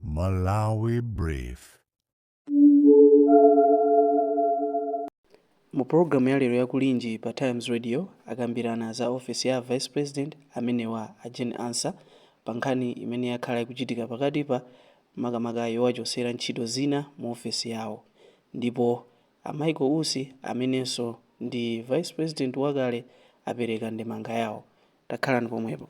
Malawi Brief. Mu program ya lero ya kulinji pa Times Radio akambirana za office ya Vice President amenewa a Jane Ansah pa nkhani imene yakhala ikuchitika pakati pa makamaka yowachosera ntchito zina mu office yawo. Ndipo a Michael Usi amenenso ndi Vice President wakale apereka ndemanga yawo. takhalani pomwepo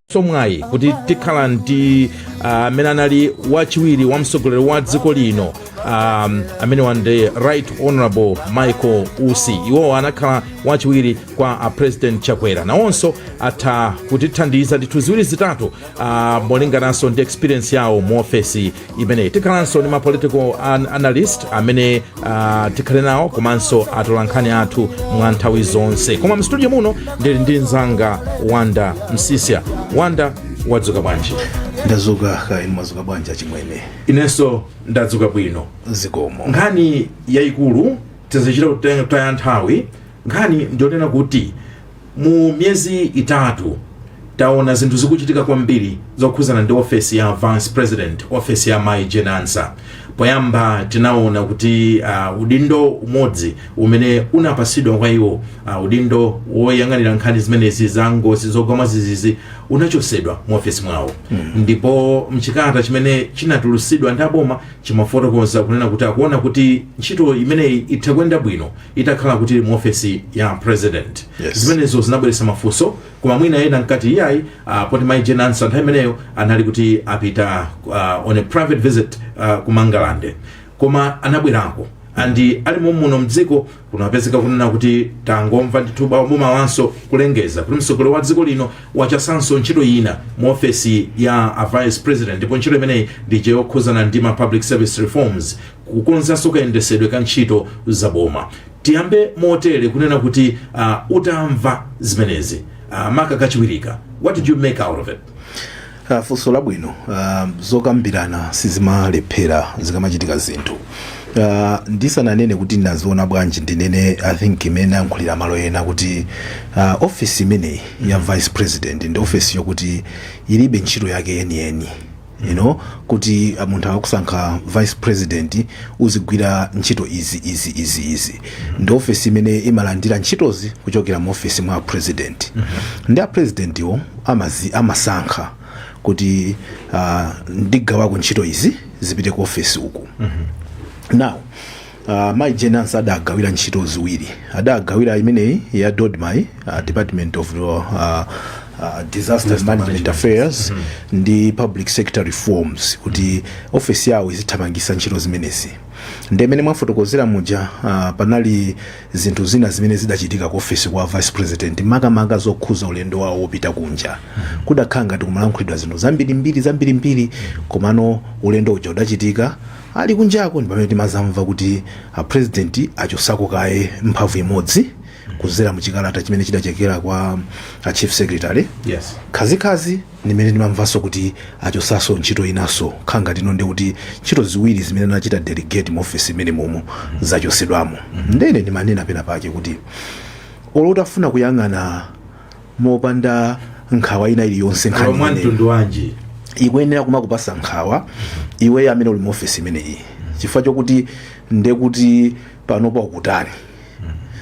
tsomwayi kuti tikhala ndi ah, amene uh, anali wachiwiri kwa mtsogoleri wa dziko lino um, amene wa ndi right honorable michael usi iwowo anakhala wachiwiri kwa a president chakwera nawonso atha kutithandiza ndithu ziwiri zitatu uh, molingananso ndi experience yawo mu ofesi imeneyi tikhalanso ndi ma political an analyst amene uh, tikhale nawo komanso atolankhani athu mwa nthawi zonse koma mstudio muno ndili ndi mzanga wonder msiska wonder wadzuka bwanji ndazuka kaya inu mwazuka bwanji achimwene inenso ndadzuka bwino zikomo nkhani yayikulu tisachite kutaya nthawi nkhani ndiyonena kuti Mu miyezi itatu taona zinthu zikuchitika kwambiri zokhuzana ndi ofesi ya vice president, ofesi ya Mai Jane Ansah. Poyamba tinaona kuti uh, udindo umodzi umene unapasidwa kwa iwo uh, udindo woyang'anira nkhani zimenezi za ngozi zogwa mwazizizi unachosedwa mu ofesi mwawo mm. ndipo mchikalata chimene chinatulusidwa ndi aboma chimafotokoza kunena kuti akuona kuti ntchito imeneyi itha kuyenda bwino itakhala kuti mu ofesi ya president Yes. zimenezo zinabweretsa mafunso koma mwina ena nkuti iyayi uh, poti mai jane ansah nthawi imeneyo anali kuti apita uh, on a private visit uh, ku mangalande koma anabwerako andi ali mommuno mdziko kunapezeka kunena kuti tangomva ndithu boma mmawanso kulengeza kuti mtsogoleri wa dziko lino wachosanso ntchito ina mu ofesi ya a vice president ndipo ntchito imeneyi ndi yokhuzana ndi ma public service reforms kukonzanso kayendesedwe ka ntchito za boma tiyambe motere kunena kuti uh, utamva zimenezi uh, maka kachiwirika what did you make out of it Ah, funso labwino Ah, zokambirana sizimalephera zikamachitika zinthu Ah, ndisananene kuti ndinaziona bwanji ndinene i think mmene ayankhulira malo ena kuti ah, office imeneyi ya vice president ndi office yokuti ilibe ntchito yake yeniyeni you know kuti ah, munthu akakusankha vice president uzigwira ntchito izi izi izi izi ndi ofesi imene imalandira ntchitozi kuchokera mu ofesi mwa president ndi a presidentiwo amazi amasankha kuti uh, ndigawako ntchito izi zipite ku ofesi uku now Uh, Mai Jane Ansah adagawira ntchito ziwiri adagawira imeneyi ya DoDMA uh, Department of uh, uh, Disaster Management Affairs mm -hmm. ndi Public Sector Reforms kuti ofesi yawo izithamangisa ntchito zimenezi nde mmene mwafotokozera muja uh, panali zinthu zina zimene zidachitika ku ofesi kwa vice president makamaka zokhuza ulendo wawo wopita kunja mm -hmm. kudakhala ngati kumalankhulidwa zinthu zambirimbiri zambirimbiri komano ulendo uja udachitika Ali kunjako ndi pamene timazamva kuti a president achosako kaye mphamvu imodzi kuzera mu chikalata chimene chidachokera kwa a chief secretary Yes. kachikenaso ndi pamene ndimamvanso kuti achosaso ntchito inaso nkhani ngati ino ndi kuti ntchito ziwiri zimene anachita delegate mu office imene mmomo zachosedwamo ndene ndimanena pena pake kuti olo utafuna kuyang'ana mopanda nkhawa ina iliyonse nkhani imeneyi. mwa mtundu wanji ikuyenera kumakupasa nkhawa iweyo amene uli mu ofesi imeneyi chifukwa chokuti ndekuti panopa ukutani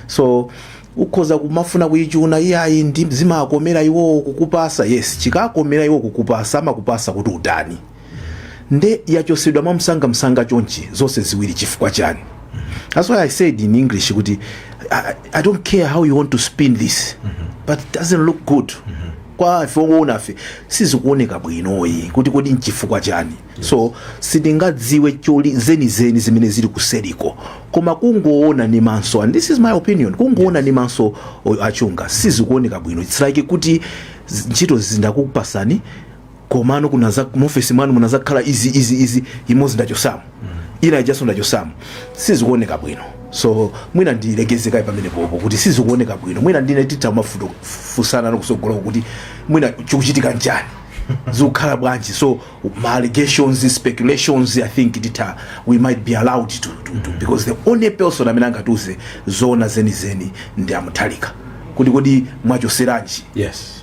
so ukhoza kumafuna kuyichuna iyayi ndi zimakomera iwowo kukupasa yes chikakomera iwo kukupasa amakupasa kuti utani nde yachosedwa mwamsangamsanga chonchi zonse ziwiri chifukwa chani that's why i said in english kuti I, i don't care how you want to spin this but it doesn't look good kwa ife owoonafe sizikuoneka bwinoyi kuti kodi nchifukwa chani so sitingadziwe zolinga zenizeni zimene zili kuseriko koma kungoona ni maso and this is my opinion kungoona ni maso o- achunga sizikuoneka bwino it's like kuti z- ntchito zindakupasani komano kunaza muofesi mwanu munazakhala izi izi izi imodzi ndachosamo ina ijaso ndachosamo sizikuoneka bwino so mwina ndilekeze kaye pamene popo kuti sizikuoneka bwino mwina ndine titha kumafunsana kusogoloko kuti mwina chikuchitika nchani zikukhala bwanji so ma allegations speculations i think titha we might be allowed to, to, to because the only person amene angatiuze zoona zenizeni ndi a Mutharika kuti kodi mwachoseranji yes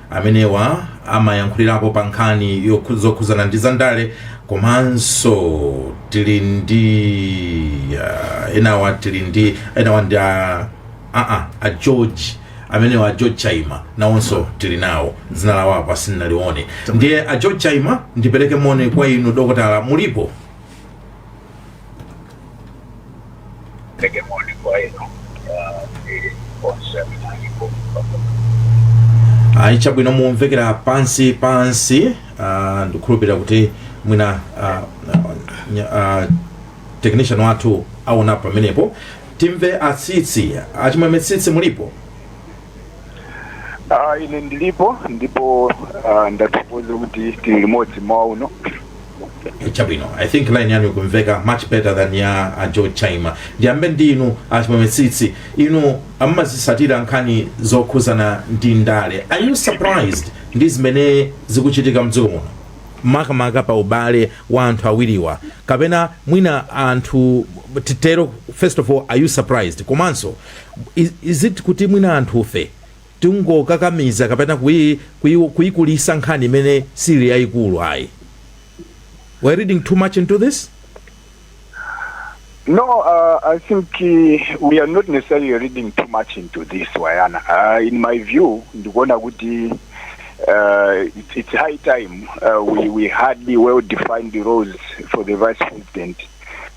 amenewa amayankhulirapo pa nkhani zokhu- zokhuzana ndi zandale komanso tili ndi uh, enawa tili ndi enawa ndi a aa a george amenewa a george chaima nawonso tili nawo dzina lawo apa sinnalione ndiye a george chaima ndipereke moni kwa inu dokotala mulipo Take a morning quiet, no? Uh, the concept and you go from the ayi chabwino mumvekera pansi pansi ah, ndikukhulupirira kuti mwina ah, nya- ah, technician wathu aonapo pamenepo timve a Tsitsi a Chimwemwe Tsitsi mulipo Uh, ine ndilipo ndipo uh, ndathokoza kuti tili limodzi mmawa uno chabwino i think line yanu ikumveka much better than ya a george chaima ndiyambe ndi inu a Chimwemwe Tsitsi inu mumazitsatira nkhani zokhuzana ndi ndale are you surprised ndi zimene zikuchitika mdziko muno makamaka pa ubale wa anthu awiriwa kapena mwina anthu titero first of all are you surprised komanso Is, is it kuti mwina anthufe tingokakamiza kapena kui, kui, kuikulisa nkhani imene sili yayikulu ayi? We're reading too much into this? No, uh, I think uh, we are not necessarily reading too much into this, Wayana. Uh, in my view, ndikuona kuti uh, it's, it's high time uh, we, we had the well-defined roles for the vice president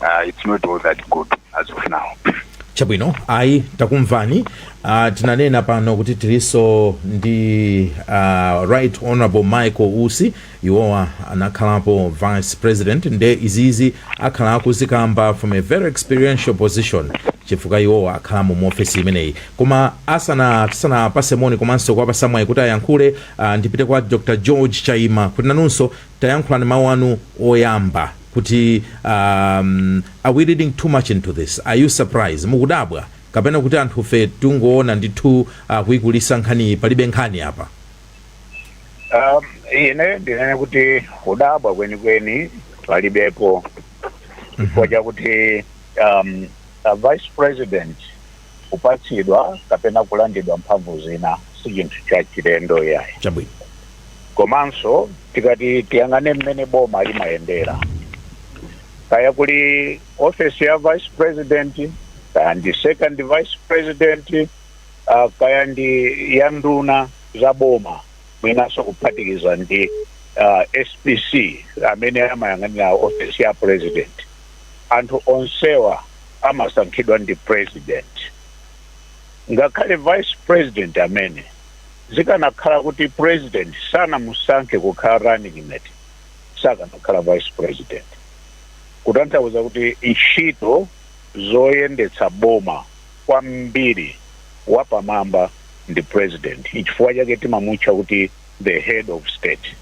uh, it's not all that good as of now. chabwino ayi takumvani uh, tinanena pano kuti tiliso ndi uh, right honorable michael usi iwowa anakhalapo vice president nde izizi akhala akuzikamba from a very experiential position chifukwa iwowa akhalamo mu ofesi imeneyi koma asana tisanapatse moni komanso kuwapatsa mwayi kuti ayankhule uh, ndipite kwa dr george chaima kuti nanunso tayankhulani mawu anu oyamba kuti um are we reading too much into this? Are you surprise? Mukudabwa? Kapena kuti anthufe tikungoona ndithu uh, kuikulitsa nkhaniyi palibe nkhani apa? Um, ine ndinene kuti kudabwa kwenikweni palibepo chifukwa chakuti um, a vice president kupatsidwa kapena kulandidwa mphamvu zina si chinthu cha chilendo iyayi. Chabwino. Komanso tikati tiyang'ane mmene boma limayendera, kaya kuli ofesi ya vice president, kaya ndi second vice president, uh, kaya ndi ya nduna za boma, mwinanso kuphatikiza ndi uh, SPC amene amayang'anira ofesi ya president. anthu onsewa amasankhidwa ndi president. Ngakhale vice president amene, zikanakhala kuti president sanamusankhe kukhala running mate, sakanakhala vice president. Kutanthauza kuti ntchito zoyendetsa boma kwambiri wapamwamba ndi president. Nchifukwa chake timamutcha kuti the head of state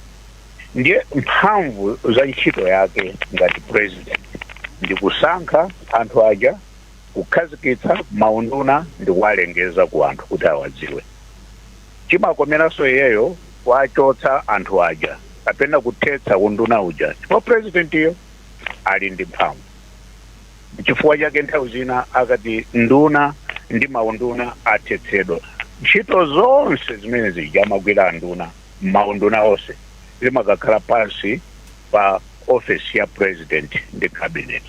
ndiye mphamvu za ntchito yake ngati president ndi kusankha anthu aja kukhazikitsa maunduna ndi kuwalengeza ku anthu kuti awadziwe chimakomeranso iyeyo kuwachotsa anthu aja kapena kuthetsa unduna uja chifukwa presidentiyo ali ndi mphamvu Nchifukwa chake nthawi zina akati nduna ndi maunduna athetsedwa, ntchito zonse zimene zija amagwira anduna m'maunduna onse zimakakhala pansi pa ofesi ya president ndi cabinet.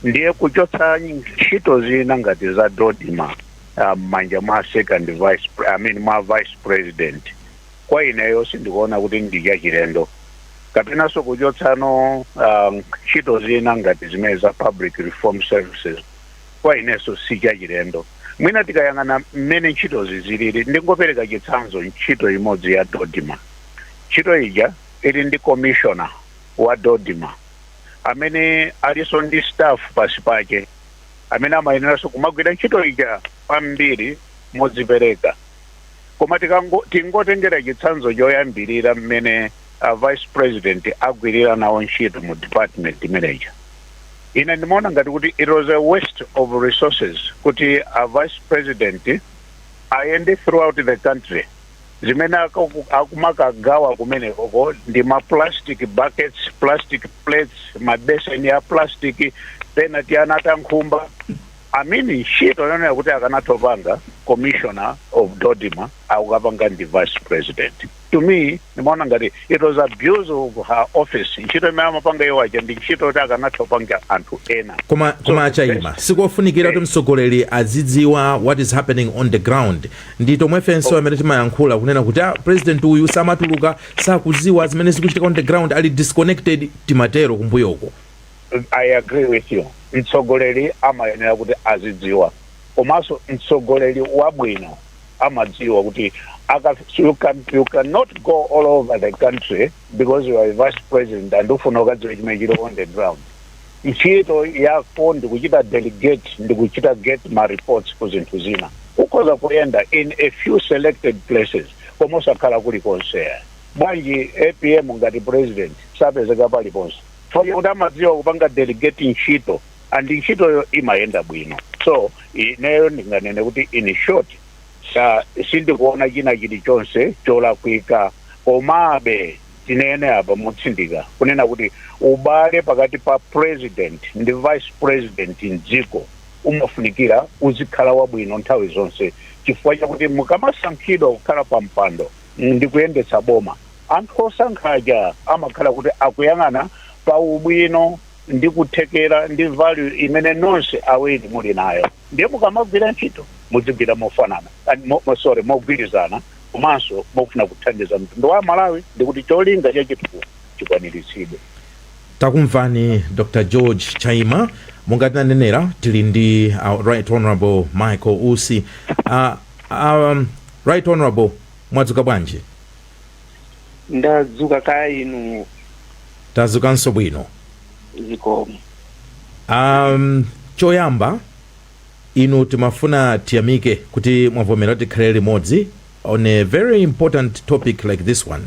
Ndiye kuchotsa ntchito zina ngati za Dodma m'manja mwa second vice I mean mwa vice president, kwa ineyo sindikuona kuti ndi chachilendo kapenanso kuchotsano ah, ntchito zina ngati zimene za public reform services kwa inenso si chachilendo mwina tikayang'ana mmene ntchitozi zilili ndingopereka chitsanzo ntchito imodzi ya dodma ntchito ija ili ndi commissioner wa dodma amene alinso ndi staff pasi pake amene amayeneranso kumagwira ntchito ija kwambiri modzipereka koma tikango- tingotengera chitsanzo choyambirira mmene a vice president agwirira nawo ntchito mu department imeneja ine ndimaona ngati kuti it was a waste of resources kuti a vice president ayende throughout the country zimene akaku- akumakagawa kumenekoko ndi ma plastic buckets plastic plates mabeseni a plastic penati anata nkhumba I mean ntchito yonena kuti akanatha kupanga commissioner of dodma akukapanga ndi vice president to me ndimaona ngati it was abuse of her office ntchito imene amapanga iwo aja ndi ntchito yoti akanatha kupanga anthu ena koma a chaima sikofunikira kuti mtsogoleri azidziwa what is happening on the ground ndi tomwefenso amene timayankhula kunena kuti ah, president uyu samatuluka sakuziwa zimene zikuchitika on the ground ali disconnected timatero kumbuyoko I agree with you mtsogoleri amayenera kuti azidziwa komanso mtsogoleri wabwino amadziwa kuti aka, you, can, you cannot go all over the country because you are a vice president and ufuna ukadziwe chimene chili on the ground ntchito yako ndikuchita delegate ndikuchita get ma reports ku zinthu zina ukhoza kuyenda in a few selected places koma osakhala kulikonse bwanji apm ngati president sapezeka paliponse chifukwa chakuti amadziwa kupanga delegate ntchito and ntchitoyo imayenda bwino so ineyo ndinganene kuti in short sa sindikuona china chilichonse cholakwika komabe tinene apa motsindika kunena kuti ubale pakati pa president ndi vice president mdziko umafunikira uzikhala wabwino nthawi zonse chifukwa chakuti mukamasankhidwa kukhala pa mpando ndi kuyendetsa boma Anthu osankha aja amakhala kuti akuyang'ana pa ubwino ndi kuthekera ndi value imene nonse awiri muli nayo ndiye mukamagwira ntchito mudzigwira mofanana and sorry mogwirizana komanso mofuna kuthandiza mtundu wa aMalawi ndi kuti cholinga cha chitukuko chikwaniritsidwe. Takumvani Dr George Chaima. Monga tinanenera tili ndi a Right Honourable Michael Usi. A Right Honourable, mwadzuka bwanji? ndadzuka kaya inu tadzukanso bwino zikomo um, choyamba inu timafuna tiyamike kuti mwavomera tikhale limodzi on a very important topic like this one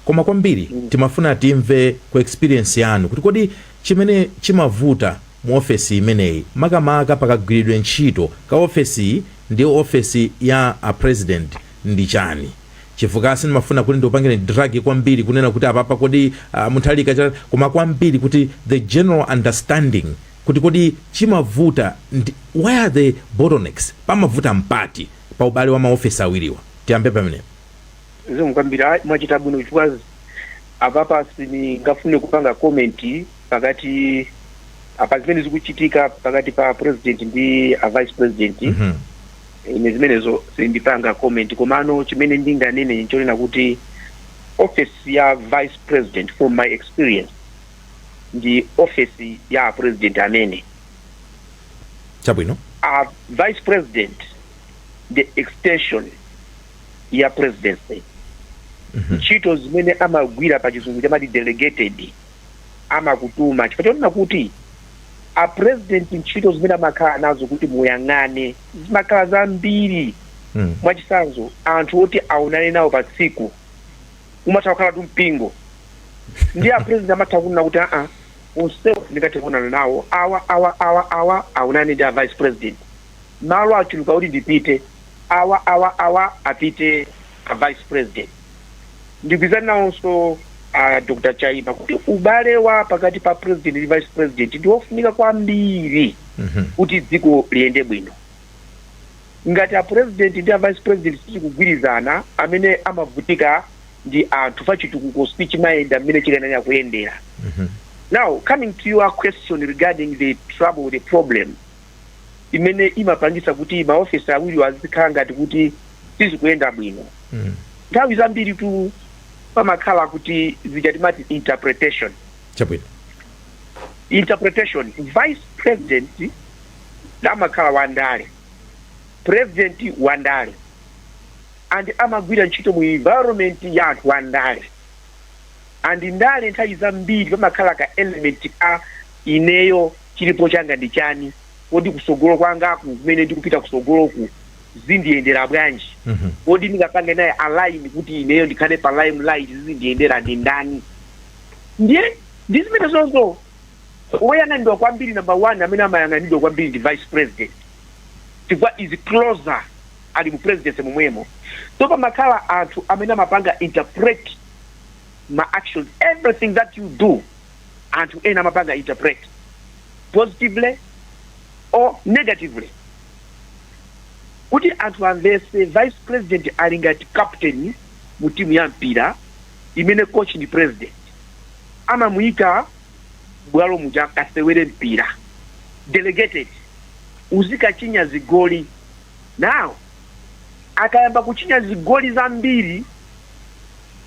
koma kwambiri timafuna timve ku experience yanu kuti kodi chimene chimavuta mu ofesi imeneyi makamaka pakagwiridwe ntchito ka ofesi iyi ndi ofesi ya a president ndi chiyani chifukwa sindimafuna kuti ndikupangireni drag kwambiri kunena kuti apapa kodi uh, Mutharika cha koma kwambiri kuti the general understanding kuti kodi chimavuta ndi where are the bottlenecks pamavuta mpoti pa ubale wa maofesi awiriwa tiyambe pamenepo zikomo kwambiri ayi, mwachita bwino chifukwa apapa sindingafune kupanga comment pakati apa zimene zikuchitika pakati pa a president ndi a vice president Mhm. ine zimenezo sindipanga comment komano chimene ndinganene nchonena kuti office ya vice president from my experience ndi office ya a president amene chabwino a vice president ndi extension ya presidency ntchito zimene amagwira pa chizungu chamati delegated amakutuma chifukwa chonena kuti a president ntchito zimene amakhala nazo kuti muyang'ane zimakhala zambiri Mm. mwachitsanzo anthu oti aonane nawo pa tsiku umatha kukhalatu mpingo nde a president amatha kunena kuti aa onsewa sindingathe kuonana nawo awa awa awa awa aonane ndi a vice president malo achuluka kuti ndipite awa awa awa apite a vice president ndigwirizana nawonso a dr chaima kuti ubale wa pakati pa president ndi vice president ndi wofunika kwambiri Mhm. kuti dziko liyende bwino ngati a president ndi a vice president sakugwirizana amene amavutika ndi anthu chifukwa chitukuko sichimayenda mmene chikanayenera kuyendera Mhm. now coming to your question regarding the trouble the problem imene imapangisa kuti maofesi awiriwo azikhala ngati kuti sizikuyenda bwino mm. nthawi zambiritu pamakhala kuti zija timati interpretation chabwino interpretation vice president amakhala wandale president wandale and amagwira ntchito mu environment ya anthu wandale and ndale nthawi zambiri pamakhala ka element ka ineyo chilipo changa ndi chani, kodi kusogolo kwangaku kumene ndikupita kusogoloku zindiyendela bwanji, kodi ndingapange naye align kuti ineyo ndikhale pa lime light zizindiyendela ndi ndani ndiye ndi zimene zozo woyang'anidwa kwambiri number one amene amayang'anidwa kwambiri ndi vice president chifukwa is closer ali mu presidency momwemo so pamakhala anthu amene amapanga interpret ma actions everything that you do anthu ena amapanga interpret positively or negatively kuti anthu amvese vice president ali ngati captain mu timu ya mpira imene coach ndi president amamuyika bwalo muja kasewere mpira delegated uzikachinya zigoli now akayamba kuchinya zigoli zambiri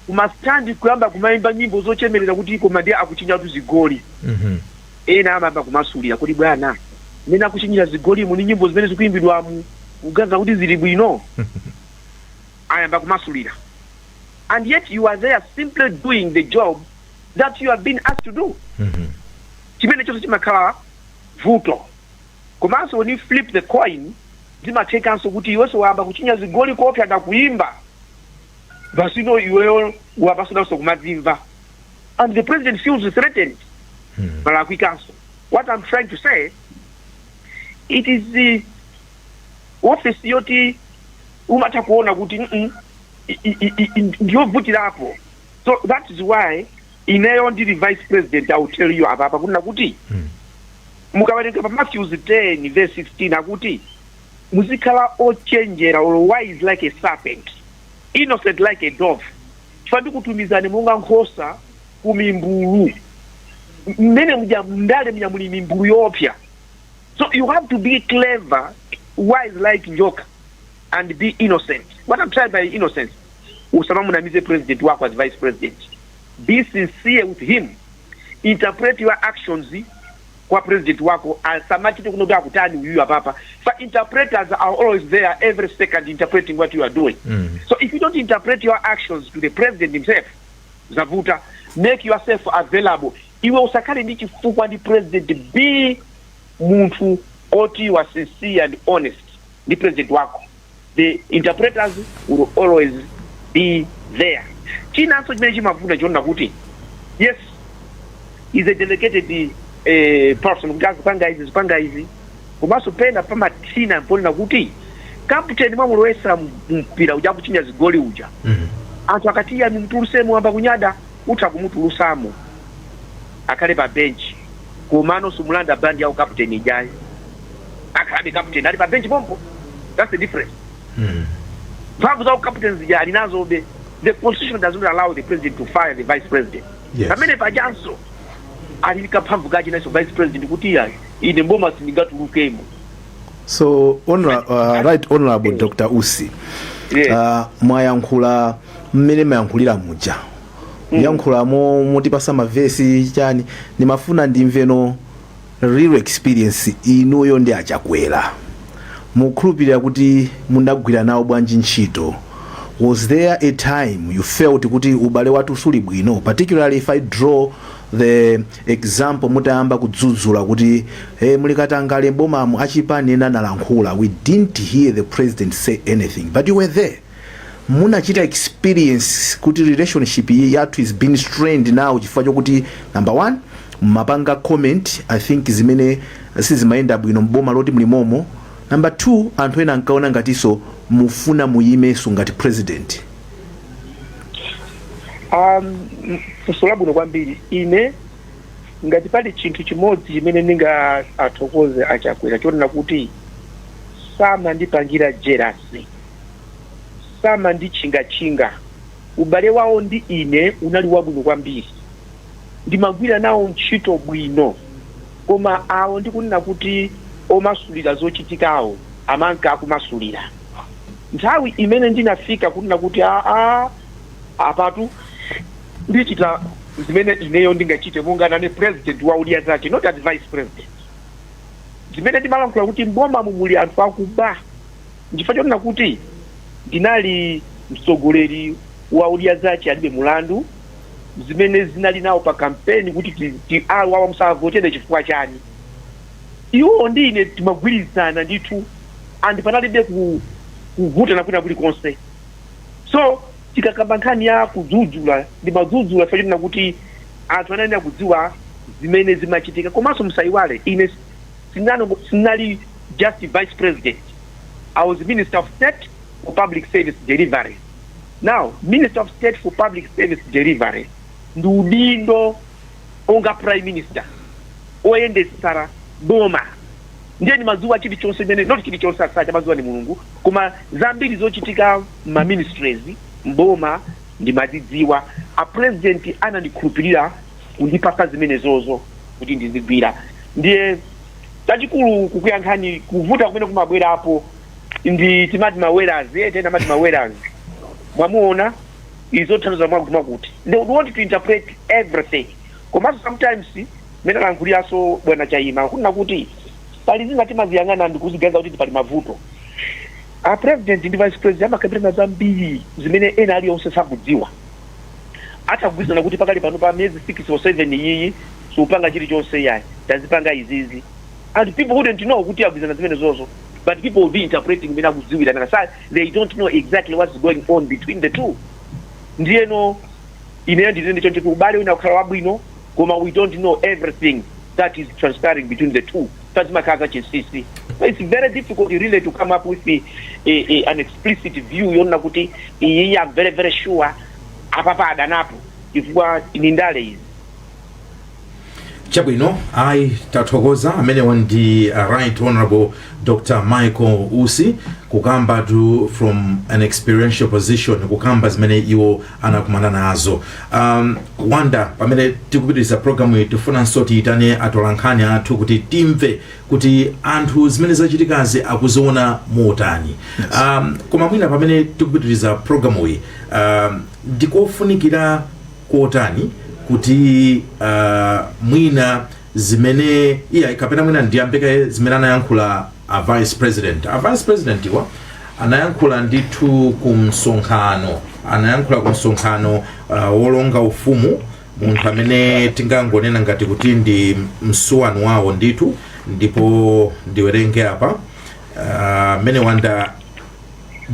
kumastandi kuyamba kumayimba nyimbo zochemerera kuti koma ndiye akuchinyatu zigoli Mhm. ena amayamba kumasulira kuti bwana mmene akuchinyira zigolimu ni nyimbo zimene zikuyimbidwamu mukuganiza kuti zili bwino ayamba kumasulira and yet you are there simply doing the job that you have been asked to do Mhm. chimene chonse chimakhala vuto komanso when you flip the coin zimathekanso kuti iwenso wayamba kuchinya zigoli koopsa ndakuyimba basino iweyo wayambanso kumadzimva and the president feels threatened palakwikanso what i'm trying to say it is the office yoti umatha kuona kuti mm, i- i- i- i- ndiyovutirapo so that is why ineyo ndili vice president i will tell you apapa kunena kuti mukawerenga pa matthews 10 verse 16 akuti muzikhala ochenjera or wise like a serpent innocent like a dove chifukwa ndikutumizani monga nkhosa ku mimbulu mmenemuja mndale muja muli mimbulu yoopsa so you have to be clever wise like njoka and be innocent what am trying by innocence usamamunamize president wako as vice president be sincere with him interpret your actions kwa president wako asamachite kuno kuti akutani uyuyu apapa fa interpreters are always there every second interpreting what you are doing Mm. so if you don't interpret your actions to the president himself zavuta make yourself available iwe usakhale ndi chifukwa ndi president be munthu oti you are sincere and honest ndi president wako the interpreters will always be there chinanso chimene chimavuta nchonena kuti yes is a delegated eh, person kuti azipanga izi azipanga izi komanso pena pamathina ponena kuti kaputeni mwamulowesa mpira uja akuchinya zigoli uja Mhm. anthu akati iyayi mtuluseni wayamba kunyada utha kumutulusamo akhale pa benchi komano sumulanda bandi ya ukaputeni ijayi akhalabe captain ali pa bench pompo that's the difference mm. mphamvu za ucaptain zija ali nazobe the constitution does not allow the president to fire the vice president yes. pamene pajanso ali ndi kaphamvu kache nacho vice president kuti iya ine mboma sindingatulukemo so honor, uh, right honorable dr usi mwayankhula mmene mumayankhulira muja mm. mwayankhulamo motipatsa mavesi chani ndimafuna ndimveno real experience inuyo ndi achakwera mukukhulupirira kuti munagwira nawo bwanji ntchito was there a time you felt kuti ubale wathu suli bwino particularly if i draw the example mutayamba kudzudzula kuti muli katangale mbomamu achipani ena analankhula we didn't hear the president say anything but you were there munachita experience kuti relationship yathu has been strained now chifukwa chokuti number one mumapanga comment i think zimene sizimayenda bwino mboma loti mlimomo number two anthu ena ankaona ngatinso mufuna muyimenso ngati president um, funso labwino kwambiri ine ngati pali chinthu chimodzi chimene ndingathokoze achakwera chonena kuti samandipangira jerasi samanditchingatchinga. Ubale wawo ndi ine unali wabwino kwambiri. Ndimagwira nawo ntchito bwino. Koma awo ndi kunena kuti omasulira zochitikawo amanka akumasulira. Nthawi imene ndinafika kunena kuti aah apatu ndichita zimene ineyo ndingachite monga nane president wa Odya Zake not as vice president. Zimene ndimalankhula kuti m'bomamu muli anthu akuba. nchifukwa chonena kuti ndinali mtsogoleri wa odya zache alibe mulandu zimene zinali nawo pa kampeni kuti ti- ti- awa awa musavotere chifukwa chani iwo ndi ine timagwirizana ndithu and panalibe ku- kuvutana kwina kulikonse so tikakamba nkhani ya kudzudzula ndimadzudzula chifukwa chonena kuti anthu anayenera kudziwa zimene zimachitika komanso musayiwale ine sinango sinali just vice president i was minister of state for public service delivery now minister of state for public service delivery ndi udindo onga prime minister oyendetsera boma ndiye ndimadziwa chilichonse ine not chilichonse amachidziwa ndi mulungu koma zambiri zochitika ma ministries mboma ndimazidziwa a president anandikhulupirira kundipasa zimenezozo kuti ndizigwira ndiye chachikulu kukuyankhani kuvuta kumene kumabwerapo ndi timati mawerazi eti timati mawerazi mwamuona izo zotanthauza mwakuti mwakuti they would want to interpret everything komanso sometimes mene alankhuliranso bwana chaima kunena kuti pali zina timaziyang'ana ndikuziganiza kuti pali mavuto a president ndi vice president amakambirana zambiri zimene ena aliyonse sakudziwa atha kugwirizana kuti pakali pano pa miyezi 6 or 7 iyiyi supanga chilichonse iyayi tazipanga izizi and people wouldn't know kuti agwirizana zimenezozo but people will be interpreting mene akudziwira nanga si they don't know exactly what's going on between the two ndiyeno ineyo ndinene chonchi kuti ubale utha kukhala wabwino koma we don't know everything that is transpiring between the two paja zimakhala zachinsinsi so it's very difficult really to come up with a, a, a, an explicit view yonena kuti iyiyi am very very sure apapa adanapo chifukwa ndi ndale izi chabwino ayi tathokoza amenewa ndi uh, right honorable dr michael usi kukambatu from an experiential position kukamba zimene iwo anakumana nazo um, wonder pamene tikupitiriza programu iyi tifunanso tiyitane atolankhani athu kuti timve kuti anthu zimene zachitikazi akuziona motani um, koma mwina pamene tikupitiriza programu iyi um, ndikofunikira kotani kuti uh, mwina zimene iyayi kapena mwina ndiyambe kaye zimene anayankhula a vice president a vice president iwa anayankhula ndithu ku msonkhano anayankhula ku msonkhano uh, wolonga ufumu munthu amene tingangonena ngati kuti ndi msuwani wawo ndithu ndipo ndiwerenge apa mmene uh, wanda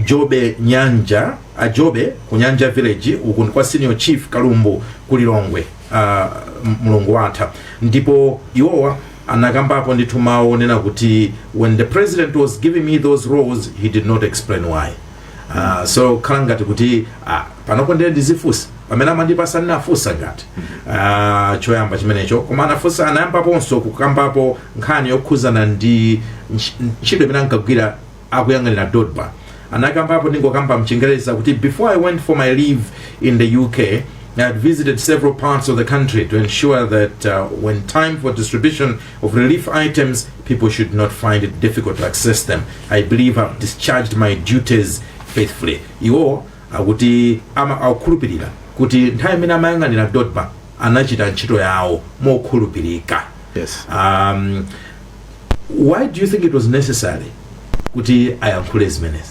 jobe nyanja a jobe ku nyanja village uku ndi kwa senior chief kalumbu ku lilongwe uh, mulungu watha ndipo iwowa anakambapo ndithu mawu onena kuti when the president was giving me those roles he did not explain why uh, zokhala ngati kuti uh, panopo ndiye ndizifunsa pamene amandipasa ndinafunsa ngati ah, choyamba chimenecho koma anafunsa anayambaponso kukambapo nkhani yokhuzana ndi ntch- ntchito imene ankagwira akuyang'anira dodma anakambapo ndingokamba mchingereza kuti before i went for my leave in the uk I had visited several parts of the country to ensure that uh, when time for distribution of relief items, people should not find it difficult to access them. I believe I've discharged my duties faithfully. Iwo Akuti akukhulupirira kuti nthawi imene amayang'anira Dodma anachita ntchito yawo mokhulupirika. Yes. Um, why do you think it was necessary kuti ayankhule zimenezi?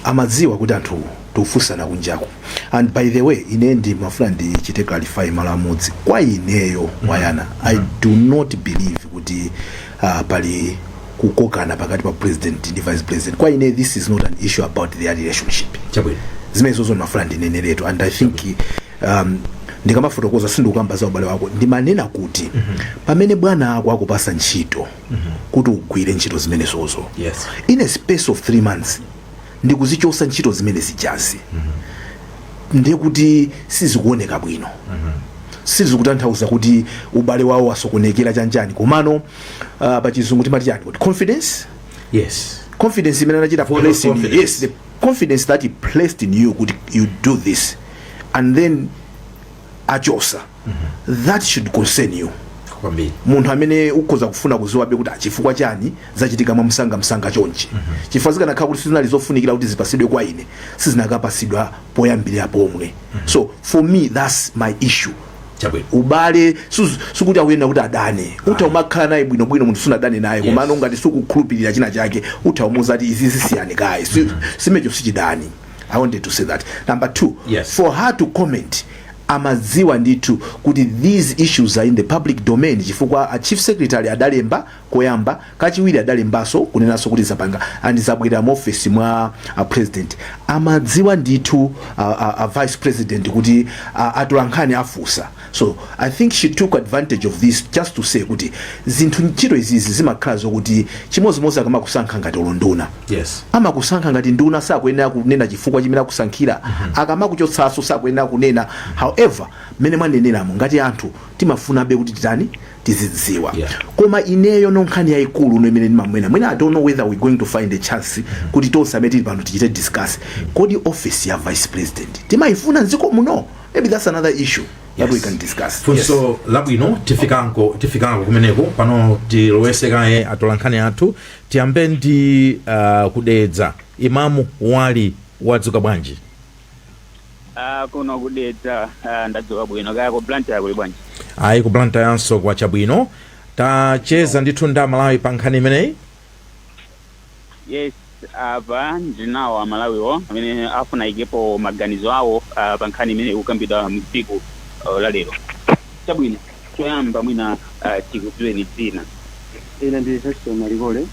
amadziwa kuti anthu tikufunsana kunjaku and by the way ine ndimafuna ndichite clarify malo amodzi kwa ineyo wayana i do not believe kuti uh, pali kukokana pakati pa president ndi vice president kwa ine this is not an issue about their relationship chabwino zimenezozo ndimafuna ndineneretu and i think um, ndikamafotokoza sindikukamba za ubale wawo ndimanena kuti pamene bwana ako akupasa ntchito kuti ugwire ntchito zimenezozo yes in a space of three months ndikuzichosa ntchito zimene zijazi ndiye kuti sizikuoneka bwino sizikutanthauza kuti ubale wawo wasokonekera chanjani komano uh, pa chizungu timati chani kuti confidence yes confidence imene anachita Vote of place in you. confidence. yes the confidence that he placed in you kuti you do this and then achosa that should concern you kwambiri munthu amene ukhoza kufuna kuziwabe kuti chifukwa chani zachitika mwa msanga msanga chonchi chifukwa zikanakhala kuti sizinali zofunikira kuti zipasidwe kwa ine sizinakapasidwa poyambirira pomwe so for me that's my issue chabwino ubale suz- sikuti akuyenera kuti adane utha umakhala naye bwinobwino munthu sunadane naye komano ngati sukukhulupirira china chake utha umuuza kuti izi zisiyani kaye Si- chimenecho sichidani i wanted to say that number two Yes. for her to comment amadziwa ndithu kuti these issues are in the public domain chifukwa a chief secretary adalemba koyamba, kachiwiri adalembaso kunenaso kuti zapanga ndi zabwerera mu office mwa a president amadziwa ndithu a, a, a vice president kuti a, atolankhani afusa so i think she took advantage of this just to say kuti zinthu ntchito izizi zimakhala zokuti chimodzimodzi akamakusankha ngati unduna yes amakusankha ngati nduna sakuyenera kunena chifukwa chimene akusankhira akamakuchotsaso sakuyenera kunena however mmene mwaneneramo ngati anthu timafunabe kuti titani tizidziwa Yeah. koma ineyo no nkhani yayikulu no imene ndimaona mwina i don't know whether we going to find a chance kuti tonse amene tili pano tichite discuss kodi office ya vice president timayifuna mdziko muno maybe that's another issue that we Yes. can discuss funso labwino tifikanko tifikanko kumeneko pano tilowese kaye atolankhani athu tiyambe ndi uh, ku Dedza Imamu Wali wadzuka bwanji Ah, kuno ku Dedza ah, ndadzuka bwino kaya ku Blantyre kuli bwanji? ayi ku Blantyre yanso kwacha bwino tacheza ndithu ndi amalawi pa nkhani imeneyi Yes, apa ndinawo amalawiwo amene afuna aikepo maganizo awo ah, pa nkhani imene ikukambidwa mtsiku ah, la lero. Chabwino. Choyamba mwina ah, tikudziweni dzina. Ine ndi Heston Malikole.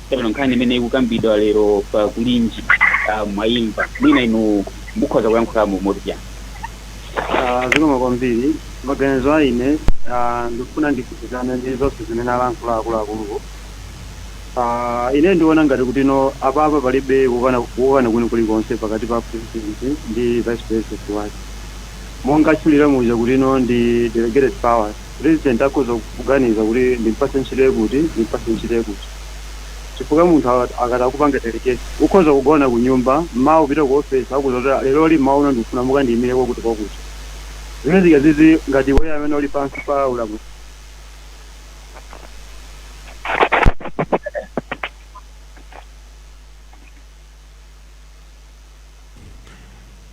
Chabwino, nkhani imene ikukambidwa lero pa kulinji ah, mwaimva mwina inu mukhoza kuyankhulamo motani? Ah, Zikomo kwambiri. Maganizo a ine ah, ndikufuna ndigwirizane ndi zonse zimene alankhula akuluakuluwo. Ah, Ine ndiona ngati kutino apapa palibe kukana kukana kwina kulikonse pakati pa president ndi vice president wake. Monga atchulira muja kuti no ndi delegated powers, president akhoza kuganiza kuti ndimpatse ntchito ikuti ndimpatse ntchito ikuti. Chifukwa munthu akati akupanga delegate ukhoza kugona kunyumba mmawa upite ku office akuuza kuti leroli mmawa uno ndikufuna mukandiyimire kwakuti kwakuti. Zimenezi nga zizi ngati iweyo amene uli pansi pa ulamuliro.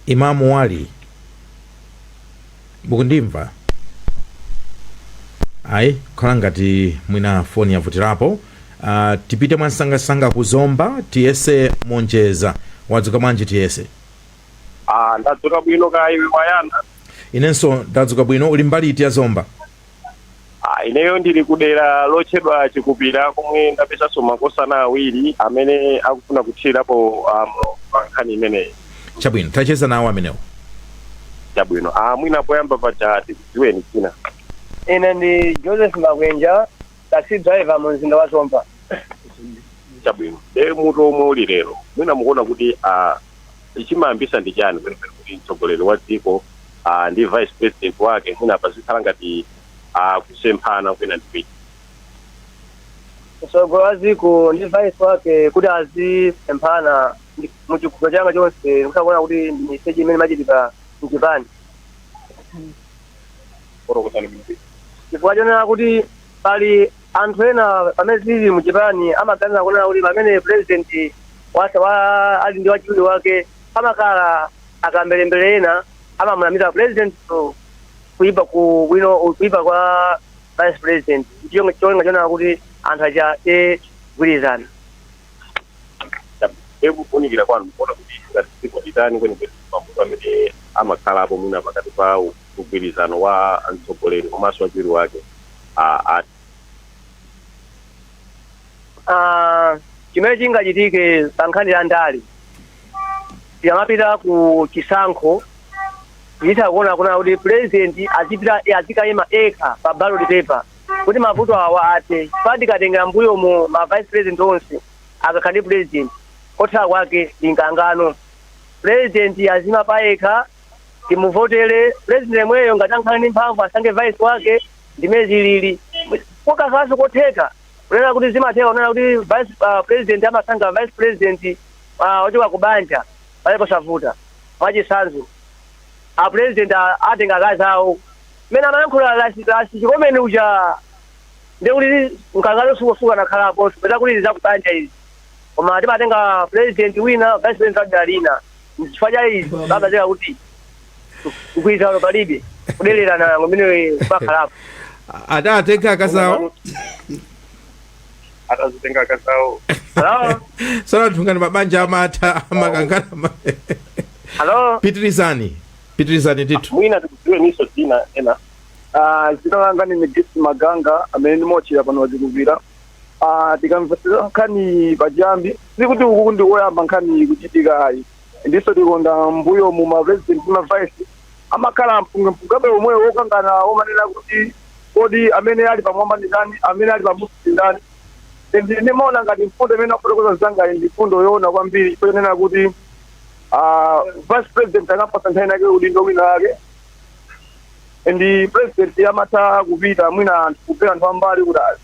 Imam Wali mukundimva ayi kukhala ngati mwina foni yavutirapo uh, tipite mwamsangamsanga ku zomba tiyese monjeza wadzuka bwanji tiyese Ah, ndadzuka bwino kaya iwe wayana inenso ndadzuka bwino uli mbali iti ya zomba Ah, ineyo ndili kudera lotchedwa chikupira komwe ndapezanso makosana awiri amene akufuna kuthirirapo um, pa nkhani imeneyi chabwino tacheza nawo amenewo chabwino ah, mwina poyamba paja tikudziweni dzina ine ndi joseph makwenja taxi driver mu mzinda wa zomba chabwino e mutu omwe uli lero mwina mukuona kuti ah, Chimayambisa ndi chani kwenikweni kuti mtsogoleri wa dziko uh, ndi vice president wake mwina pazikhala ngati uh, kusemphana kwina ndi kwina mtsogoleri wa dziko ndi vice wake kuti azisemphana ndi- mu chikhulupiro changa chonse ndikuona kuti ndi miseche imene imachitika mchipani fotokozani bwino chifukwa chonena kuti pali Anthu ena pamene tili mu chipani amaganiza kunena kuti pamene president watha wa ali ndi wachiwiri wake pamakhala akamberembere ena amamunamiza president to kuipa ku bwino kuipa kwa vice president ndicho cholinga chonena kuti anthu aja asagwirizana e kufunikira kwanu mukuona kuti ngati dziko litani kwenikweni mavuto amene amakhalapo mwina pakati pa mgwirizano wa mtsogoleri komanso wachiwiri wake a- a- Ah, chimene chingachitike pa nkhani ya ndale tikamapita ku chisankho titha kuona kunena kuti president azipita azikayima yekha pa ballot paper kuti mavuto awa athe pa tikatengera mbuyo mu ma vice president onse akakhala ndi president kotha kwake ndi mkangano president aziima payekha timuvotele president yemweyo ngati akhala ndi mphamvu asankhe vice wake ndi mmene zilili kokasaso kotheka kunena kuti zimatheka kunena kuti vice uh, president amasankha vice president uh, ochoka ku banja palibe povuta mwachitsanzo a president a- atenga akazi awo mmene amayankhula lasi lasi chikomeni uja ndekuti mkangano sukosuka nakhalapo poti zakubanja izi koma timatenga president wina vice president wa dera lina chifukwa cha izi amazeka kuti mgwirizano palibe kudelerana ngomwe pakhalapo atatenga akazawo atazitenga akazawo halo sanathu ngati mabanja amatha amakangana ma- halo pitirizani pitirizani ndithu mwina tikudziwe ndinso dzina ena Ah, dzina langa ndi midisi maganga amene ndimotchera pano pa Chikupira Ah, tikamvetsera nkhani pachiyambi sikuti uku ndi koyamba nkhani kuchitika ayi ndiponso tikaona mmbuyo mu ma president ma vice amakhala mpungwepungwe omwewo wokangana omanena kuti kodi amene ali pamwamba ndi ndani amene ali pamunsi ndi ndani ndi ndimaona ngati mfundo imene akufotokoza anzangayi ndi mfundo yoona kwambiri ponena kuti ah, vice president akampatsa nthawi inayake udindo wina wake and president amatha kupita mwina anthu kupeza anthu ambali kuti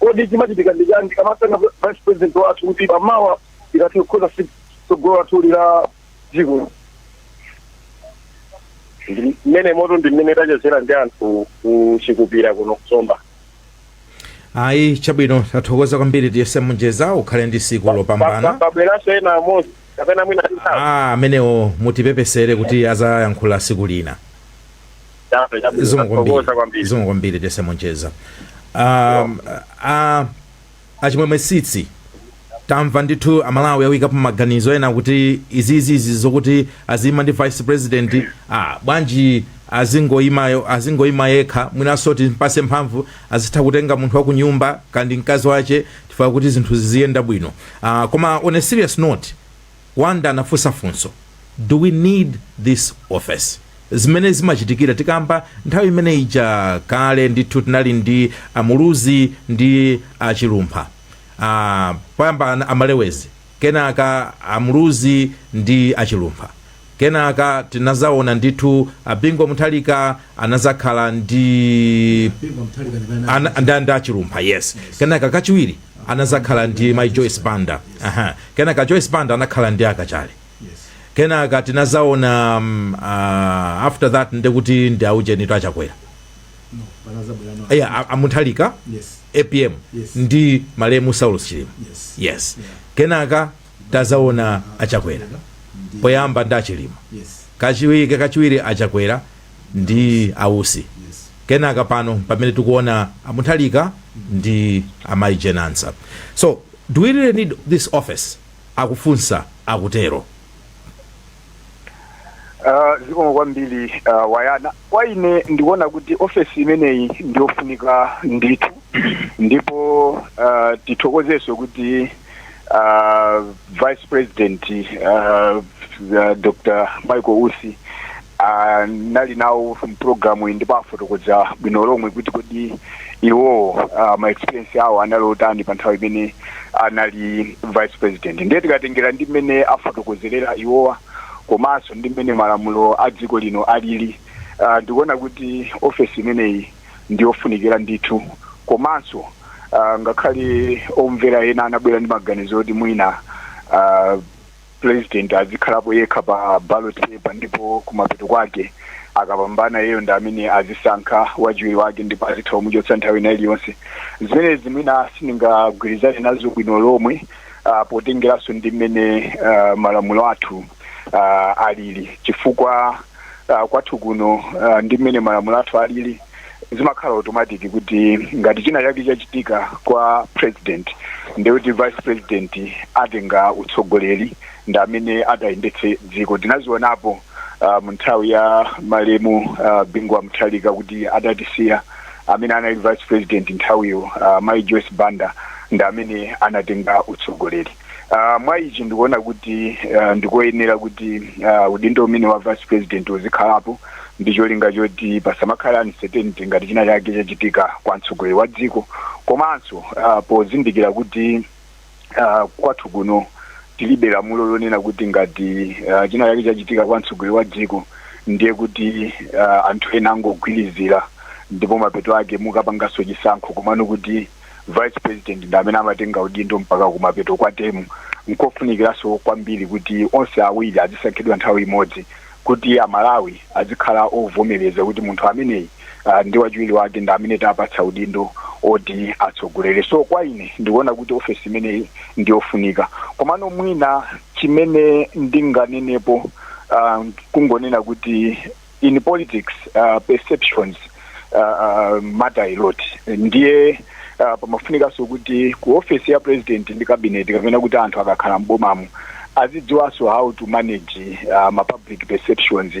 Kodi chimachitika ndi chiyani tikamasankha vice president wathu kuti pa mawa tikathe kukonza si- tsogolo lathu la dziko? Ndi- Mmenemotu ndi mmene tachezera ndi anthu kuchikupira kuno ku Zomba. ayi chabwino tathokoza kwambiri tiyese munjeza ukhale ndi tsiku lopambana Pabweranso ena amodzi kapena mwina titatu. ah amenewo mutipepesere kuti adzayankhula tsiku lina Chape chabwino zikomo kwambiri tathokoza kwambiri. zikomo kwambiri tiyese munjeza um, a achimwemwe sitsi tamva ndithu a Malawi akuikapo maganizo ena kuti izizizi zokuti aziyima ndi vice president ah, bwanji azingoyimayo azingoyima yekha mwinanso timpatse mphamvu azitha kutenga munthu wa kunyumba kaya ndi mkazi wache chifukwa kuti zinthu ziziyenda bwino ah, koma on a serious note Wonder anafunsa funso, Do we need this office? Zimene zimachitikira tikamba nthawi imene ija kale ndithu tinali ndi a Muluzi ndi a Chilumpha. Ah, poyamba ana- a Malewezi, kenaka a Muluzi ndi a Chilumpha. Kenaka tinazaona ndithu a Bingu wa Mutharika anazakhala ndi Bingu wa Mutharika ndi bana. ana, nda, nda Chilumpha yes. Kenaka kachiwiri anazakhala ndi Mai Joyce Banda. Aha. Kenaka Joyce Banda anakhala ndi a Kachali. Yes. Kenaka tinazaona um, uh, after that ndekuti ndi aujeni a Chakwera. No, bana za bwana. Eya a- a Mutharika Yes. APM Yes. ndi malemu Saulos Chilima. Yes. Yes. Yeah. Kenaka Tazaona achakwera poyamba ndi achilima kachiwi kachiwiri achakwera ndi ausi kenaka pano pamene tikuona a Mutharika ndi amayi Jane Ansah so do we really need this office akufunsa akutero Ah, zikomo kwambiri ah, wayana kwa ine ndikuona kuti ofesi imeneyi ndiyofunika ndithu ndipo ah, tithokozenso kuti ah, vice president ah, ah, dr michael usi anali nawo mpulogalamu iyi ndipo afotokoza bwino lomwe kuti kodi iwowo uh, ma experience awo anali otani pa nthawi imene anali vice president ndiye tikatengera ndi mmene afotokozerera iwowa komanso ndi mmene malamulo a dziko lino alili uh, ndikuona kuti ofesi imeneyi ndi yofunikira ndithu komanso uh, ngakhale omvera ena anabwera ndi maganizo oti mwina uh, president azikhalapo yekha pa ballot paper ndipo kumapeto kwake akapambana yeyo ndi amene azisankha wachiwiri wake ndipo azitha kumuchotsa nthawi ina iliyonse zimenezi mwina sindingagwirizane nazo bwino lomwe uh, potengeranso ndi mmene uh, malamulo athu uh, alili chifukwa uh, kwathu kuno uh, ndi mmene malamulo athu alili zimakhala automatic kuti ngati china chake chachitika kwa president ndekuti vice president atenga utsogoleri ndi amene atayendetse dziko tinazionapo uh, mu nthawi ya malemu uh, bingu wa mutharika kuti adatisiya amene anali vice president nthawiyo uh, mai joyce banda ndi amene anatenga utsogoleri Ah, mwa ichi ndikuona kuti ah, ndikoyenera kuti ah, udindo umenewu wa vice president uzikhalapo ndi cholinga choti pasamakhale uncertainty ngati china chake chachitika kwa mtsogoleri wa dziko komanso ah, pozindikira kuti ah, kwathu kuno tilibe lamulo lonena kuti ngati ah, china chake chachitika kwa mtsogoleri wa dziko ndiye kuti ah, anthu ena angogwirizira ndipo mapeto ake mukapanganso chisankho komano kuti vice president ndi amene amatenga udindo mpaka kumapeto kwa temu nkofunikiranso kwambiri kuti onse awiri azisankhidwa nthawi imodzi kuti amalawi azikhala ovomereza kuti munthu ameneyi uh, ndi wachiwiri wake ndi amene tapatsa udindo oti atsogolere so kwa ine ndikuona kuti ofesi imeneyi ndi yofunika komano mwina chimene ndinganenepo uh, kungonena kuti in politics uh, perceptions uh, uh, matter a lot ndiye uh, pamafunikanso kuti ku office ya president ndi cabinet kapena kuti anthu akakhala m'bomamo azidziwanso how to manage uh, ma public perceptions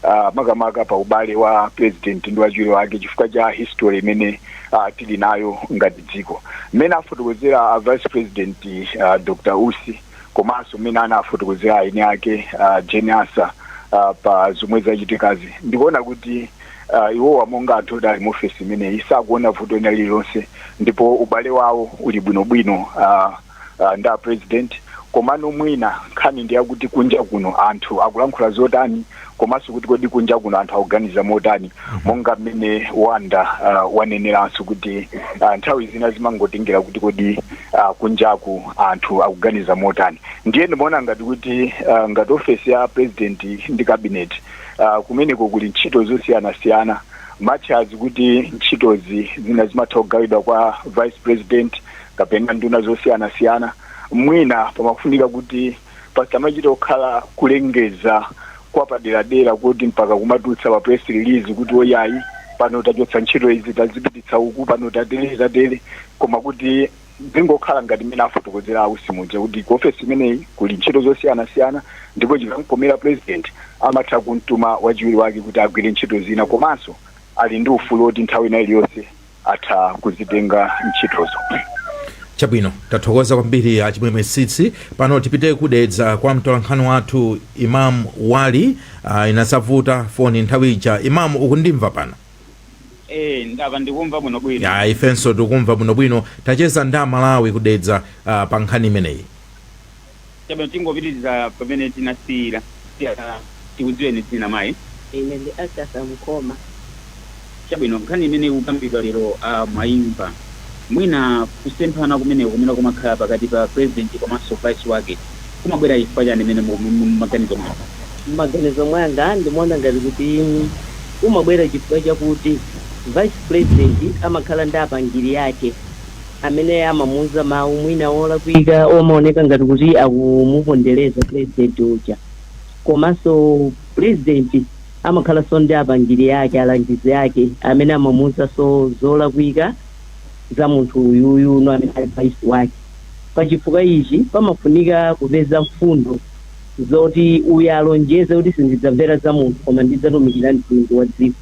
uh, makamaka pa ubale wa president ndi wachiwiri wake chifukwa cha history imene uh, tili nayo ngati dziko mmene afotokozera a vice president uh, dr usi komanso mmene anafotokozera ayi Jane uh, Jane Ansah uh, pa zomwe zachitikazi ndikuona kuti uh, iwowa monga anthu oti ali mu ofesi imeneyi sakuona vuto lina lililonse ndipo ubale wawo uli bwinobwino uh, uh, ndi apresident komano mwina nkhani ndi yakuti kunja kuno anthu akulankhula zotani komanso kuti kodi kunja kuno anthu akuganiza motani monga mmene Wonder uh, waneneranso kuti uh, nthawi zina zimangotengera kuti kodi uh, kunjaku anthu akuganiza motani ndiye ndimaona ngati kuti uh, ngati ofesi ya president ndi cabinet uh, kumeneko kuli ntchito zosiyanasiyana much as kuti ntchitozi zina zimatha kugawidwa kwa vice president kapena nduna zosiyanasiyana mwina pamafunika kuti pasamachita kukhala kulengeza kwapaderadera kuti mpaka kumatulutsa pa press release kuti oyayi pano tachotsa ntchito izi tazipititsa uku pano tatere tatere koma kuti zingokhala ngati mmene afotokozera a Usi muja kuti ku ofesi imeneyi kuli ntchito zosiyanasiyana ndipo chikamkomera president amatha kumtuma wachiwiri wake kuti agwire ntchito zina komanso ali ndi ufulu woti nthawi ina iliyonse atha kuzitenga ntchitozo. Chabwino, tathokoza kwambiri a Chimwemwe Tsitsi. Pano tipite ku Dedza kwa mtolankhani wathu Imam Wali. Uh, inasavuta foni nthawi ija. Imam, ukundimva pano? Eh, ndava ndikumva bwino bwino. Ya, ifenso tikumva bwinobwino. Tacheza ndi aMalawi ku Dedza uh, pa nkhani imeneyi. Chabwino, tingopitiriza pamene tinasiyira. Tiyana, tikudziweni dzina mayi. Ine ndi Agatha Mkhoma. Chabwino, nkhani imene ikukambidwa lero a mwayimva. Mwina kusemphana kumeneko kumene kumakhala pakati pa Purezidenti komanso Vice wake kumabwera chifukwa chani mwina mmaganizo mwanu? Mmaganizo mwanga ndimaona ngati kuti kumabwera chifukwa chakuti Vice Purezidenti amakhala ndi apangiri ake. amene amamuuza mawu mwina olakwika omaoneka ngati kuti akumupondereza pulezidenti uja. Komanso pulezidenti amakhalanso ndi apangiri ake, alangizi ake amene amamuuzanso zolakwika za munthu uyuyunu amene ali vice wake. Pachifukwa ichi, pamafunika kupeza mfundo zoti uyu alonjeze kuti sindidzamvera za munthu koma ndidzatumikira mtundu wa dziko.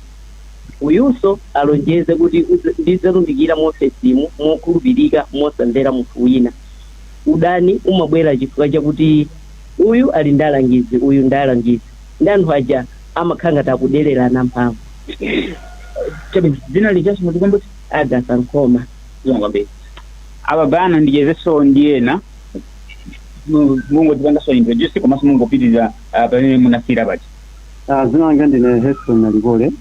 Uyunso alonjeze kuti udz ndidzatumikira muofesimu mokhulupirika mosamvera munthu wina. Udani umabwera chifukwa chakuti uyu ali ndi alangizi uyu ndi alangizi ndi anthu aja amakhala ngati akudererana mphamvu. Chabwino, dzina lijanso mutikumbutse? Agatha Mkhoma. Zikomo kwambiri. Apa pano ndichezenso ndi ena mu mungodzipanganso introduce komanso mungopitirira pamene munasiyira paja. Ah, dzina langa ndine Heston Nalikole.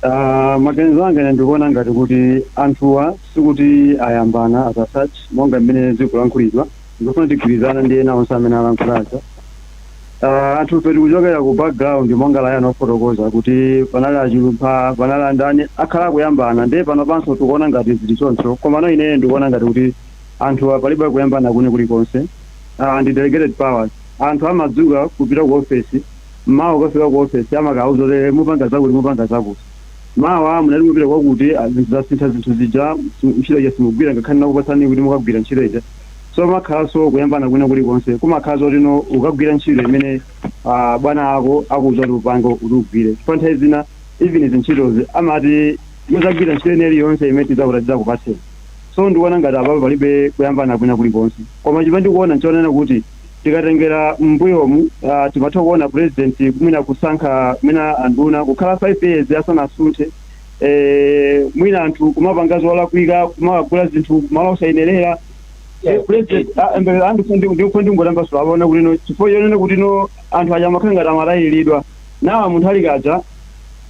Ah, maganizo anga ine ndikuona ngati kuti anthuwa sikuti ayambana as such monga mmene zikulankhulidwa ndikufuna tigwirizana ndi ena onse amene alankhulazo Ah, anthufe tikuchokera ku background monga layini yofotokoza kuti panali a Chilumpha panali andani akhala akuyambana ndiye pano panso tikuona ngati zili choncho komano ineyo ndikuona ngati kuti anthuwa palibe kuyambana kwina kulikonse Ah, ndi delegated powers Anthu amadzuka kupita ku ofesi mmawa ukafika ku ofesi amakakuuza kuti mupanga zakuti mupanga zakuti mawa munali mupita kwakuti zinthu zasintha zinthu zija ntchito ija simugwira ngakhale ndinakupatsani kuti mukagwira ntchito ija so pamakhalanso kuyambana kwina kulikonse kumakhala zoti no ukagwira ntchito imene uh, bwana ako akuuza kuti upange kuti ugwire chifukwa nthawi zina even zintchitozi amati muzagwira ntchito ina iliyonse imene tidzakuta tidzakupatseni so ndikuona ngati apapo palibe kuyambana kwina kulikonse koma chimene ndikuona nchonena kuti Tikatengera mmbuyomu timatha kuona president mwina kusankha mwina anduna kukhala 5 years asanasunthe mwina anthu kumapanga zolakwika kumagula zinthu malo osayenerera ndikufuna ndingotambasula apa kuona kuti no chifukwa chonena kuti no anthu aja amakhala ngati amatayilidwa ndawa munthu ali kaja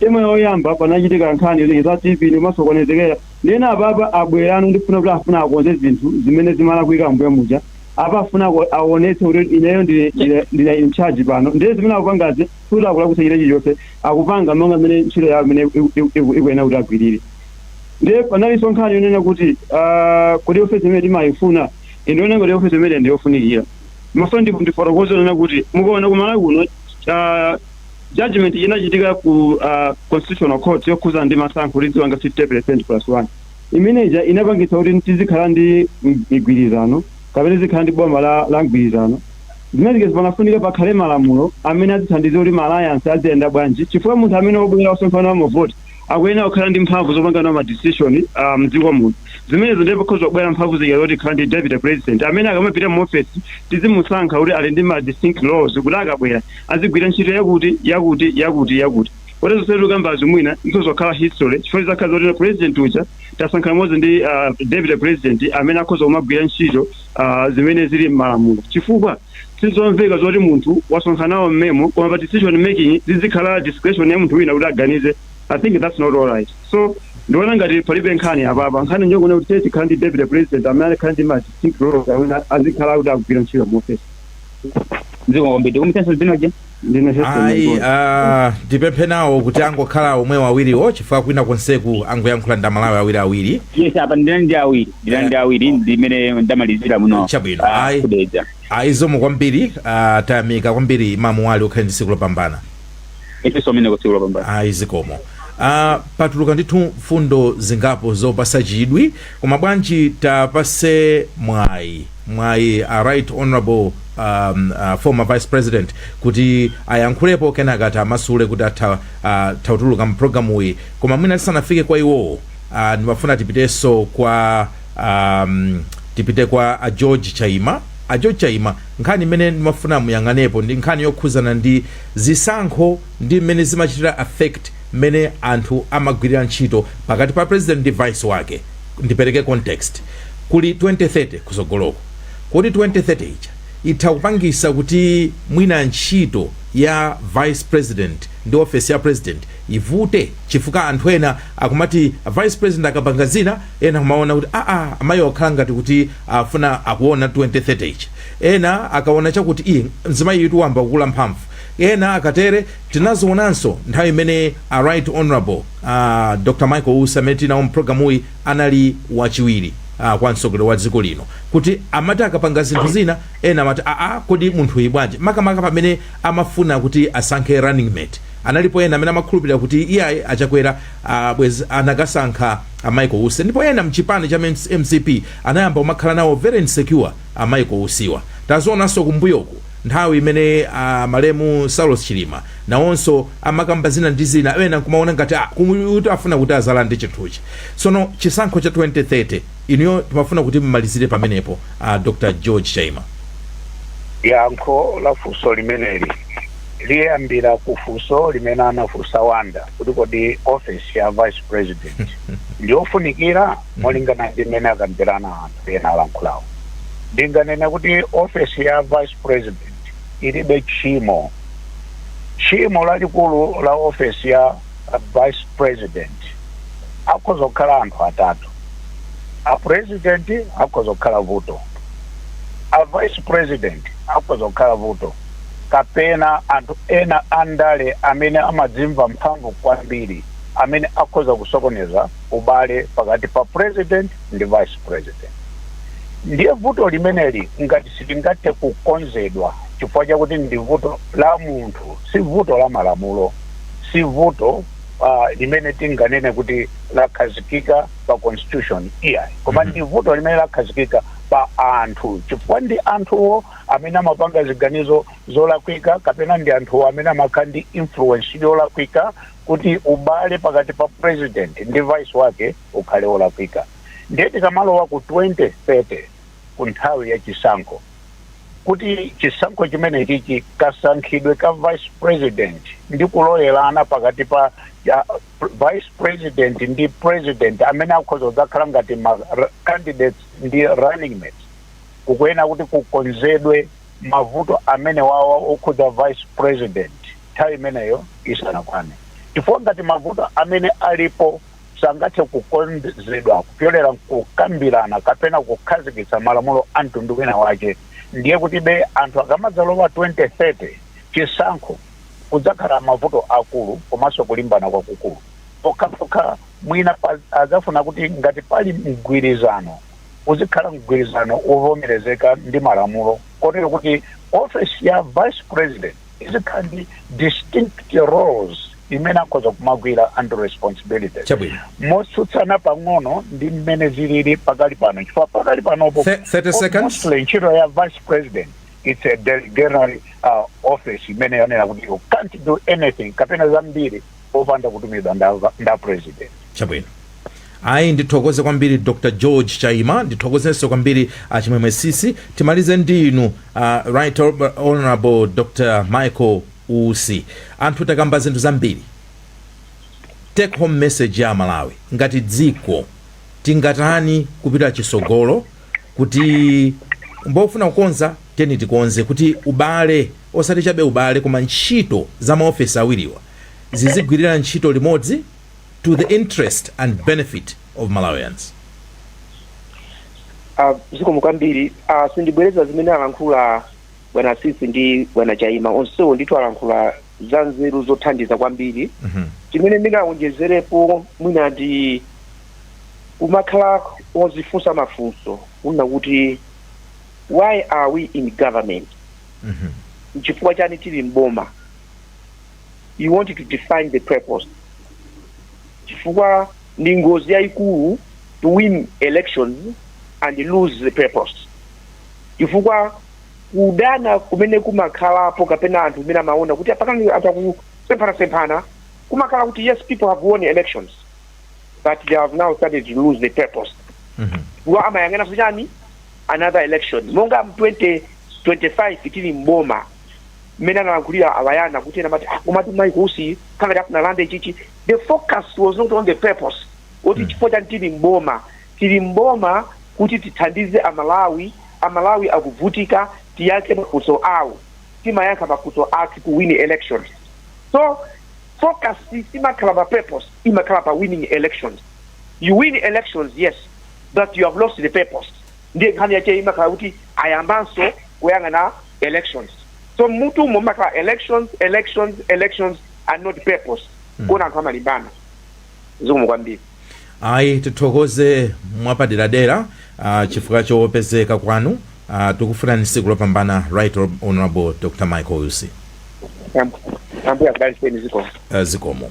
term yoyamba panachitika nkhani za tv ndimasokonezekera ndiye apapa abweranso ndikufuna kuti afuna akonze zinthu zimene zimalakwika mbuyo muja apa afuna ku- awonetse kuti ineyo ndine- ndine- ndine in charge pano ndiye zimene akupangazi sikuti akulakwitsa china chilichonse akupanga monga mmene ntchito yawo imene iku- iku- iku- ikuyenera kuti agwirire ndiye panalinso nkhani yonena kuti ah, kodi ndi ofesi imene timayifuna ine ndione ngati ofesi imene ndiyofunikira mafuna ndifotokoze zonena kuti mukaona ku Malawi kuno ah, judgment inachitika ku ah, constitutional court yokhuza ndi masankho tidziwina 50 percent plus one Imene ija inapangitsa kuti tizikhala ndi migwirizano kapena tizikhala ndi boma la, la mgwirizano. Zimene zija panafunika pakhale malamulo amene azithandiza kuti ma alliance aziyenda bwanji chifukwa munthu amene wabwera wasonkha nawo mavoti akuyenera kukhala ndi mphamvu zopanga nawo ma decision uh, mdziko muno. Zimenezo ndiye pakhoza kubwera mphamvu zija zoti tikhala ndi deputy president amene akamapita mu office tizimusankha kuti ali ndi ma distinct roles kuti akabwera azigwira ntchito yakuti yakuti yakuti yakuti. Koma zonse tikukambazi mwina zikhoza kukhala history chifukwa zizakhala zoti president uja tasankha limodzi ndi uh, deputy president amene akhoza kumagwira ntchito uh, zimene zili m'malamulo chifukwa sizomveka zoti munthu wasonkha nawo mmemo koma pa decision making zizikhala discretion ya munthu wina kuti aganize i think that's not all right so ndiona ngati palibe nkhani apapa nkhani njonena kuti titakhala ndi deputy president amene azikhala ndi ma distinct roles amene azikhala kuti akugwira ntchito mu office zikomo kwambiri tikumitenso dzinoje ndine heston ayi Mangoni. ah, ndipemphe nawo kuti angokhala omwewo awiriwo chifukwa kwina konseku angoyankhula ndi amalawi awiri awiri yes apa ndina ndi awiri ndina ndi awiri ndimene ndamalizira muno Chabwino. Ah, Ayi. kudedza ayi zikomo kwambiri ah, tayamika kwambiri imamu wali ukhale ndi tsiku lopambana ifenso mmene tsiku lopambana ayi zikomo ah, patuluka ndithu mfundo zingapo zopasa chidwi koma bwanji tapase mwayi mwayi a right honourable um, uh, former vice president kuti ayankhulepo kenaka tiwamasule kuti atha uh, kutuluka mu program uyi koma mwina tisanafike kwa iwowo uh, ndimafuna tipitenso kwa um, tipite kwa a george chaima a george chaima nkhani imene ndimafuna muyang'anepo ndi nkhani yokhuzana ndi zisankho ndi mmene zimachitira affect mmene anthu amagwirira ntchito pakati pa president ndi vice wake Ndipereke context, kuli 2030 kusogoloku, kodi 2030 ija itha kupangisa kuti mwina ntchito ya vice president ndi office ya president ivute chifukwa anthu ena akumati a vice president akapanga zina ena kumaona kuti aa amayiwa akukhala ngati kuti afuna akuona 2030 ija ena akaona chakuti ii mzimayitu wayamba kukula mphamvu ena akatere Tinazionanso nthawi imene a Right Hon. a Dr Michael Usi amene tili nawo mu program yi anali wachiwiri a kwa mtsogoleri wa dziko lino kuti amati akapanga zinthu zina ena amati aa kodi munthuyi bwanji makamaka pamene amafuna kuti asankhe running mate analipo ena amene amakhulupilira kuti iyayi a Chakwera bwezi anakasankha a Michael Usi ndipo ena mchipani cha mcp anayamba kumakhala nawo very insecure a Michael Usiwa. Tazionanso kumbuyoku. Nthawi imene a malemu Saulos Chilima nawonso amakamba zina ndi zina ena nkumaona ngati ah koma uyutu afuna kuti azalande chinthuchi. Tsono chisankho cha 2030 inuyo timafuna kuti mmalizire pamenepo a Dr. George Chaima. Yankho la funso limeneli liyambira ku funso limene anafunsa Wonder kuti kodi ofesi ya Vice President ndiyofunikira? molingana ndi mmene akambira anthu ena alankhulawo ndinganene kuti ofesi ya vice president ilibe tchimo tchimo lalikulu la ofesi ya vice president akhoza kukhala anthu atatu a president akhoza kukhala vuto a vice president akhoza kukhala vuto kapena anthu ena andale amene amadzimva mphamvu kwambiri amene akhoza kusokoneza ubale pakati pa president ndi vice president ndiye vuto limeneli ngati silingathe kukonzedwa chifukwa chakuti ndi vuto la munthu si vuto la malamulo si vuto uh, limene tinganene kuti lakhazikika pa constitution iyayi koma ndi vuto limene lakhazikika pa anthu chifukwa ndi anthuwo amene amapanga ziganizo zolakwika kapena ndi anthuwo amene amakhala ndi influence yolakwika kuti ubale pakati pa president ndi vice wake ukhale olakwika ndiye tikamalowa ku 2030 ku nthawi ya chisankho kuti chisankho chimenechichi kasankhidwe ka vice president ndi kulolerana pakati pa ya, vice president ndi president amene akhoza kudzakhala ngati ma r- candidates ndi running mates kukuyenera kuti kukonzedwe mavuto amenewawa okhudza vice president nthawi imeneyo isanakwane chifukwa ngati mavuto amene alipo sangathe kukonzedwa kupyolera kukambirana kapena kukhazikitsa malamulo a mtundu wina wake ndiye kuti be anthu akamadzalowa 2030 chisankho kudzakhala mavuto akulu komanso kulimbana kwakukulu pokhapokha mwina pa- adzafuna kuti ngati pali mgwirizano uzikhala mgwirizano wovomerezeka ndi malamulo kotero kuti ofesi ya vice president izikhala ndi distinct roles imene akhoza kumagwira and responsibilities Chabwino. motsutsana pang'ono ndi mmene zilili pakali pano chifukwa pakali panopo Thir- 30 seconds. mostly ntchito ya vice president it's a delegatory uh, office imene yonena kuti you can't do anything kapena zambiri popanda kutumidwa nda, nda president chabwino ayi ndithokoze kwambiri dr george chaima ndithokozenso kwambiri a chimwemwe tsitsi timalize ndi inu uh, right honorable dr michael usi anthu takamba zinthu zambiri take home message ya a malawi ngati dziko tingatani kupita chitsogolo kuti n'pofuna kukonza Tiyeni tikonze kuti ubale, osati chabe ubale, koma ntchito za maofesi awiriwa zizigwirira ntchito limodzi to the interest and benefit of Malawians. Ah, zikomo kwambiri ah, sindibwereza zimene alankhula bwana tsitsi ndi bwana chaima onsewo ndithu alankhula za nzeru zothandiza kwambiri Mhm. chimene ndingawonjezerepo mwina ndi kumakhala ozifunsa mafunso kunena kuti why are we in government nchifukwa chani tili mboma you want to define the purpose chifukwa ndi ngozi yayikulu to win elections and lose the purpose chifukwa kudana kumene kumakhalapo kapena anthu amene amaona kuti apa pakati pa anthu akusemphanasemphana kumakhala kuti yes people have won elections but they have now started to lose the purpose iwo amayang'ana za chani another election monga mu 2025 tili m'boma mmene analankhulira abwana kuti ena amati "Ah, komatu mayi kusi kangati afunalande ichichi the focus was not on the purpose kuti chifukwa chani tili m'boma tili m'boma kuti tithandize amalawi amalawi akuvutika tiyankhe mafunso awo timayankha mafunso a kuwina elections so focus simakhala pa purpose imakhala pa winning elections you win elections yes but you have lost the purpose ndiye nkhani yache imakhala kuti ayambanso kuyang'ana elections so mmutumo mumakhala elections elections elections and not purpose kuona anthu amalimbana zikomo kwambiri ayi tithokoze mwapaderadera uh, chifukwa chopezeka kwanu uh, tikufunirani tsiku lopambana right honorable dr michael usi ambuye akudalitseni zikomo uh, zikomo